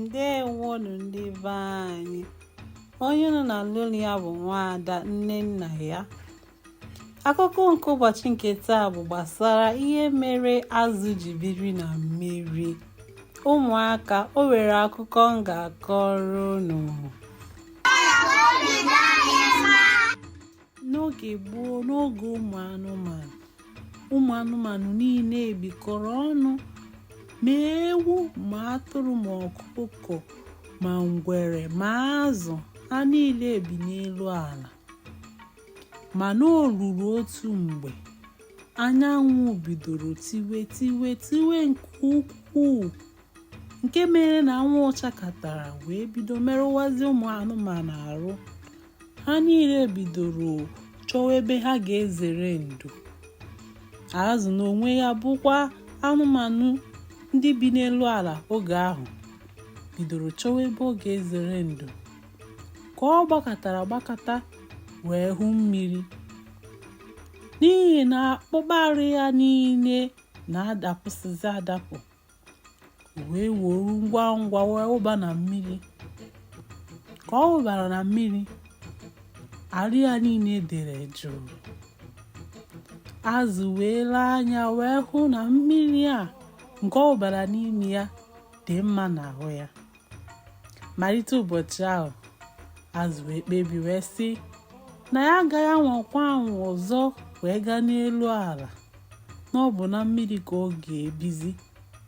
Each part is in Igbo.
ndewonu ndị be anyị onye unu na-anụ olu ya bụ nwaada nnennaya akụkọ nke ụbọchị nke taa bụ gbasara ihe mere azụ ji biri na mmiri ụmụaka o nwere akụkọ m ga-akọrọ unu n'oge gboo n'oge ụmụ anụmanụ ụmụ anụmanụ niile bikọrọ ọnụ ma ewu ma atụrụ ma ọkụkọ ma ngwere ma azụ ha niile bi n'elu ala mana o ruru otu mgbe anyanwụ bidoro tiwe tiwe tiwe nke ukwuu nke mere na anwụ chakatara wee bido merụwazi ụmụ anụmanụ arụ ha niile bidoro chọwa ebe ha ga-ezere ndo azụ n'onwe ya bụkwa anụmanụ ndị bi n'elu ala oge ahụ bidoro chọwa ebe ọ ga-ezere ndo ka ọ gbakatara gbakata wee hụ mmiri n'ihi na akpụkpọ arụ ya niile na-adapụsịzi adapụ wee woru ngwa ngwa wee wụba na mmiri ka ọ wụbara na mmiri arụ ya niile dere jụụ azụ wee lee anya wee hụ na mmiri a nke ọ wụbara n'ime ya dị mma n'ahụ ya malite ụbọchị ahụ azụ wee kpebi wee sị na ya agaghị anwakwa anwa ọzọ wee gaa n'elu ala na ọ bụ na mmiri ka ọ ga-ebizi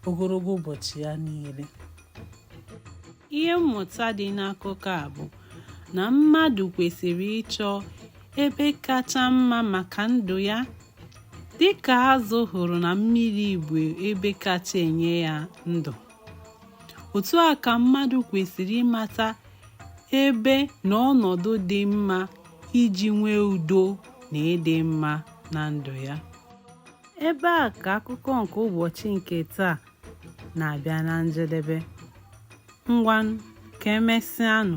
ogologo ụbọchị ya niile ihe mmụta dị n'akụkọ a bụ na mmadụ kwesịrị ịchọ ebe kacha mma maka ndụ ya dịka azụ hụrụ na mmiri bụ ebe kacha enye ya ndụ otu a ka mmadụ kwesịrị ịmata ebe na ọnọdụ dị mma iji nwee udo na ịdị mma na ndụ ya ebe a ka akụkọ nke ụbọchị nke taa na-abịa na njedebe ngwanụ ka emesịanụ